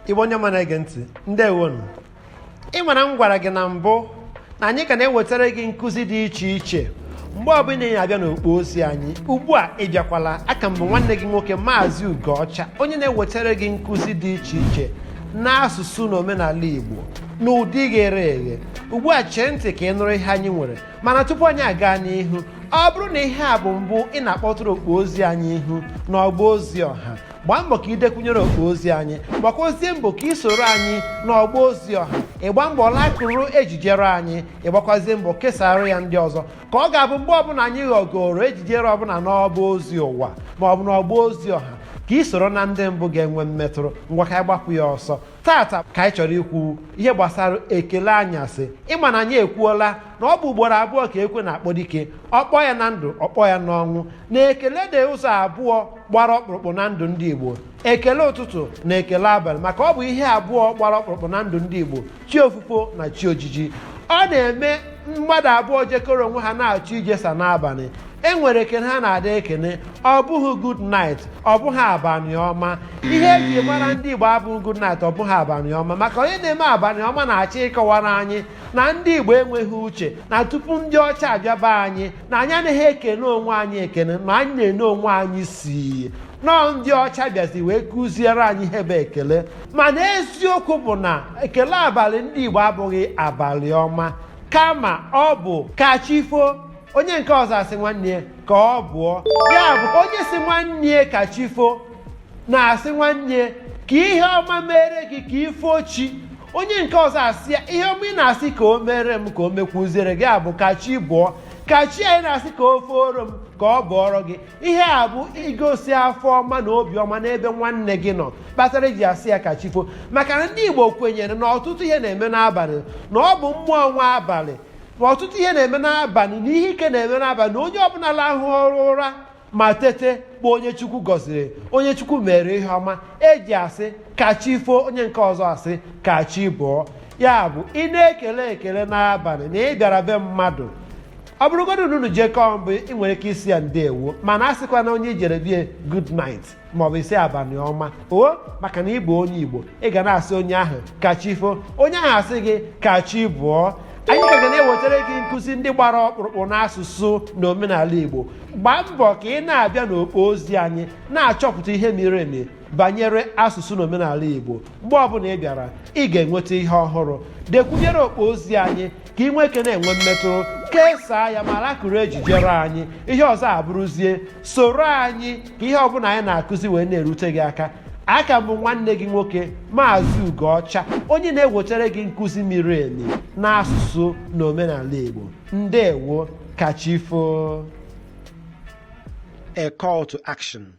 Igbo onye ọma na-ege ntị ndewonụ ị mara m gwara gị na mbụ na anyị ka na-ewetara gị nkụzi dị iche iche mgbe ọbụla ị na-abịa n'okpo ozi anyị ugbu a ị bịakwala aka m bụ nwanne gị nwoke maazị Ugoọcha onye na-ewetara gị nkụzi dị iche iche n'asụsụ na omenala Igbo n'ụdị ghere eghe ugbu a chee ntị ka ị nụrụ ihe anyị nwere mana tupu anyị aga n'ihu ọ bụrụ na ihe a bụ mbụ ị na-akpọtụrụ okpo ozi anyị ihu n'ọgba ozi ọha gbaa mbọ ka i dekwunyere okpo ozi anyị gbakwazie mbọ ka ị soro anyị n'ọgba ozi ọha ị gbaa mbọ lakụrụ ejijere anyị ị gbakwazie mbọ kesara ya ndị ọzọ ka ọ ga-abụ mgbe ọbụla anyị ghọgoro ejijere ọbụla n'ọgba ozi ụwa ma ọ bụ n'ọgba ozi ọha ka ị soro na ndị mbụ ga-enwe mmetụrụ ngwa ka anyị gbapụ ya ọsọ taata ka anyị chọrọ ikwu ihe gbasara ekele anyasị ị ma na anyị ekwuola na ọ bụ ugboro abụọ ka ekwe na-akpọ dike ọ kpọọ ya na ndụ ọ kpọọ ya n'ọnwụ na ekele dị ụzọ abụọ gbara ọkpụrụkpụ na ndụ ndị igbo ekele ụtụtụ na ekele abalị maka ọ bụ ihe abụọ gbara ọkpụrụkpụ na ndụ ndị igbo chi ofufo na chi ojiji ọ na-eme mmadụ abụọ jekọrọ onwe ha na-achọ ijesa n'abalị e nwere ekene ha na-ada ekene ọ bụghị good night ọ bụghị abalị ọma ihe eji mara ndị Igbo abụghị good night ọ bụghị abalị ọma maka onye na-eme abalị ọma na-achọ ịkọwara anyị na ndị Igbo enweghị uche na tupu ndị ọcha abịa be anyị na anyị anaghị ekene onwe anyị ekene na anyị na-ene onwe anyị si nọọ ndị ọcha bịazi wee kụziere anyị ihe bụ ekele mana eziokwu bụ na ekele abalị ndị igbo abụghị abalị ọma kama ọ bụ ka chi foo onye nke ọzọ asị nwanne ya ka ọ bụọ ya bụ onye sị nwanne ya ka chi foo na-asị nwanne ya ka ihe ọma mere gị ka i foo chi onye nke ọzọ asị ya ihe ọma ị na-asị ka o mere m ka o mekwuziere gị ya bụ ka chi bụọ ka chi anyị na-asị ka o fooro m ka ọ bụọrọ gị ihe a bụ igosi afọ ọma na obiọma n'ebe nwanne gị nọ kpatara eji asị ya ka chi foo maka na ndị igbo kwenyere na ọtụtụ ihe na-eme n'abalị na ọ bụ mmụọ nwe abalị na ọtụtụ ihe na-eme n'abalị na ihe ike na-eme n'abalị na onye ọbụla lahụrụ ụra ma tete bụ onye chukwu gọziri onye chukwu mere ihe ọma eji asị ka chi foo onye nke ọzọ asị ka chi bụọ ya bụ ị na-ekele ekele n'abalị na ị bịara be mmadụ ọ bụrụgodị na unu jekọọ mbụ ị nwere ike ịsị ya ndewo mana asịkwana onye i jere be ya good night maọbụ sị abalị ọma o maka na ị bụ onye igbo ị ga na-asị onye ahụ ka chi foo onye ahụ asị gị ka chi bụọ anyị ka ga na-ewetara gị nkụzi ndị gbara ọkpụrụkpụ n'asụsụ na omenala igbo gbaa mbọ ka ị na-abịa n'okpo ozi anyị na-achọpụta ihe miri emi banyere asụsụ na omenala igbo mgbe ọbụla ị bịara ị ga-enweta ihe ọhụrụ dekwunyere okpo ozi anyị ka ị nwee ike na-enwe mmetụta kesaa ya ma rakụrụ ejijere anyị ihe ọzọ abụrụzie soro anyị ka ihe ọbụla anyị na-akụzi wee na-erute gị aka a ka m bụ nwanne gị nwoke maazị ugoọcha onye na-ewetara gị nkụzi miri emi n'asụsụ na omenala igbo ndewo kachifo a call to action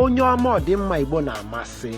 onye ọma ọdịmma Igbo na-amasị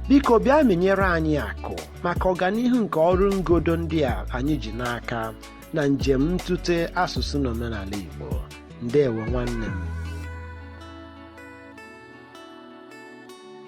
biko bịa mịnyere anyị akụ maka ọganihu nke ọrụ ngodo ndị a anyị ji n'aka na njem ntụte asụsụ na omenala Igbo ndewo nwanne m